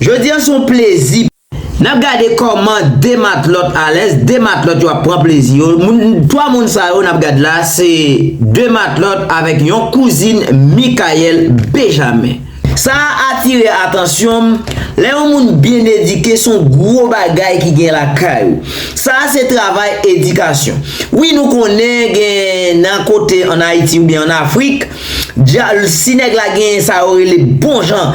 Jodi an se yon plezi. N ap gade kòman 2 matlòt alèz, 2 matlòt yo ap pran plezi yo. 3 moun sa yo n ap gad la se 2 matlòt avèk yon kouzin Mikayèl Bejamen. Sa a atire atansyon m, lè yon moun byen edike se yon gwo bagay ki gen lakay ou. Sa a se travay edikasyon. Wi nou konnen gen nan kote an Ayiti oubyen an Afrik, Jalousi nèg la genyen sa yo rele bon jan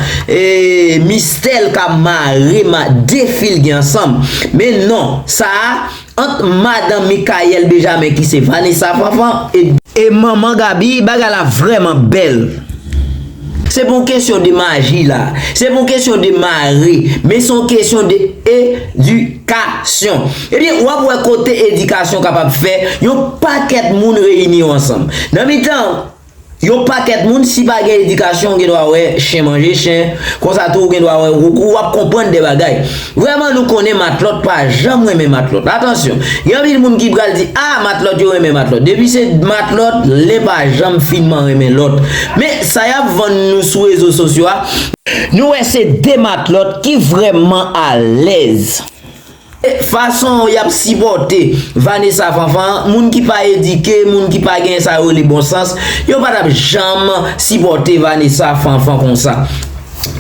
mistè l ka mare ma de fi l gen ansanm men non sa a ant madan Mikayèl Bejamen ki se Vanessa Fanfan e manman Gaby bagay la vrèman bèl se pa yon kesyon de maji la se pa yon kesyon de mare men se yon kesyon de edikasyon. Ebyen, w ap wè kote edikasyon kapab fè yon pakèt moun reyini yo ansanm. Nan mitan yon pakèt moun, si pa gen edikasyon, ou gen dwa wè chen manje chen, konsa tou ou gen dwa wè ou ou ap konprann de bagay. Vrèman nou konnen matlòt pa janm renmen matlòt. Atansyon, gen anpil moun ki pral di, a, matlòt yo renmen matlòt. Depi se matlòt, len pa janm finman renmen lòt. Men, sa y ap vann nou sou rezo sosyo a, nou wè se de matlòt ki vrèman alèz. Fason yap sipòte Vanessa Fanfan, moun ki pa edike, moun ki pa gen sa yo rele bon sans, yo pa tap janm sipòte Vanessa Fanfan konsa.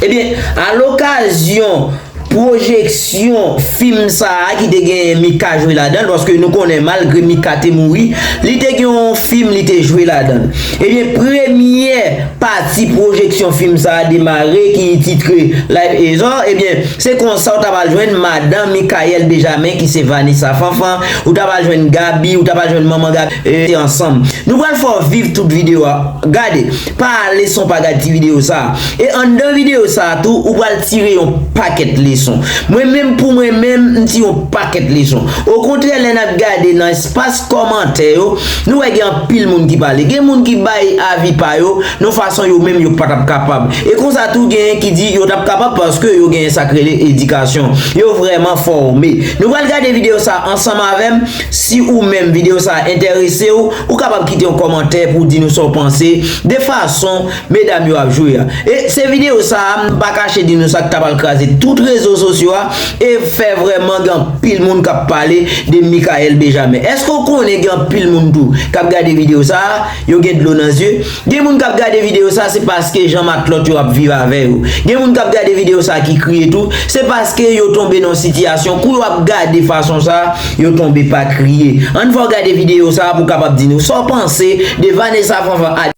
Ebyen, a lokazyon pwojeksyon fim sa a ki te gen Mika jwe ladan l, paske nou konnen malgre Mika te mouri, li te gen yon fim li te jwe ladan l. Ebyen premyè pati pwojeksyon fim sa a demare ki titre Life is Hard ebyen se konsa ou ta pral jwenn madan Mickael Bejamin ki se Vanessa Fanfan, ou ta pral jwenn Gaby, ou ta pral jwenn manman Gaby e ansanm. Nou pral fè w viv tout videyo a, gade, pa ale san w pa gad ti videyo sa a. E anndan videyo sa a tou ou pral tire yon pakèt leson. Mwen menm pou mwen menm m tire yon pakèt leson. Okontrè lè n ap gade nan. Pas kòmantè yo, nou wè gen anpil moun ki pale. Gen moun ki bay avi pa yo nan fason yo menm yo pa t ap kapab. E konsa tou genyen ki di yo t ap kapab paske yo genyen sa k rele edikasyon. Yo vrèman fòme. Nou pral gade videyo sa ansanm avè m. Si ou menm videyo sa enterese w, ou kapab kite yon kòmantè pou w di nou sa w panse de fason Medam yo ap jwe a. E se video sa a m pa kache di nou sa k ta pral kraze tout rezo sosyo a e fè vrèman gen anpil moun k ap pale de Mickaël Benjamin. Èske w konnen gen anpil moun tou k ap gade video sa a, yo gen dlo nan zye? Gen moun k ap gade video sa a se paske jan matlòt yo ap viv avè yo. Gen moun k ap gade video sa a ki kriye tou, se paske yo tonbe nan yon sitiyasyon kou yo ap gade fason sa a, yo tonbe pa kriye. Ann fè w gade video sa a pou w kapab di nou sa w panse de Vanessa Fanfan Ady.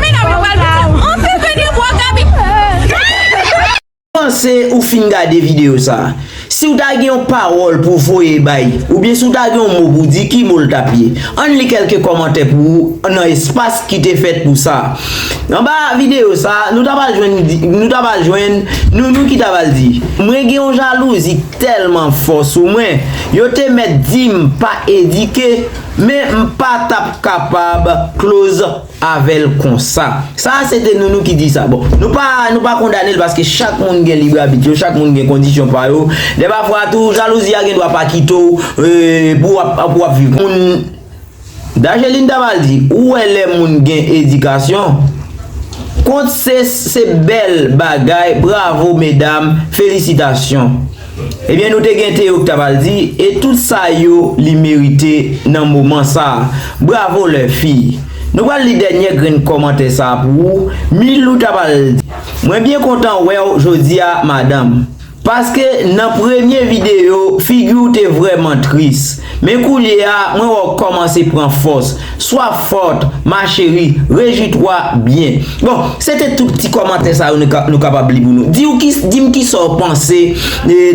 Medam yo pral piti anpil vini bro gaby. Panse ou fin gade video sa. Siw ta gen yon pawòl pou voye bay oubyen si w ta gen yon mo pou di ki mo l tap ye? Ann li kelke kòmantè pou ou nan espas ki te fèt pou sa. Anba video sa nou ta pral jwenn nou ta pral jwenn Nounou ki ta pral di mwen gen yon jalouzi tèlman fò sou mwen yo te mèt di m pa edike men m pa tap kapab close avèl konsa. Sa a se te Nounou ki di sa. Bon, nou pa, nou pa kondane l paske chak moun gen lib abit yo, chak moun gen kondisyon pa yo. Lè pafwa tou, jalouzi a gen dwa pa kite w pou w ap, pou w ap viv. Moun, Dageline ta mal di, ou wè lè moun gen edikasyon, kont se, se bèl bagay, bravo medam, felisitasyon. Ebyen nou te gen te oktav al di e tout sa yo li merite nan moman sa bravo lè fi nou pral li dènyè grenn kòmantè sa pou ou milou ta pral di mwen byen kontan wèw jodia madanm paske nan premye video figiw te vrèman tris. Men koulye a, mwen wè w kòmanse pran fòs. Sois forte, ma chérie, rejwi-toi bien. Bon, se te tout ti kòmantè sa yo nou kapab li pou nou. Di w ki, di m ki sa w panse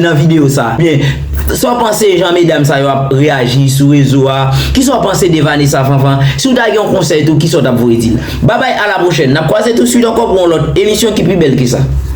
nan videyo sa. Oubyen, sa w panse jan medam sa yo ap reyaji sou rezo a? Ki sa w panse de Vanessa Fanfan? Si w ta gen yon konsèy tou, ki sa w t ap voye di l? Babay, a la pwochèn. N ap kwaze tousuit ankò pou yon lòt emisyon ki pi bèl ke sa.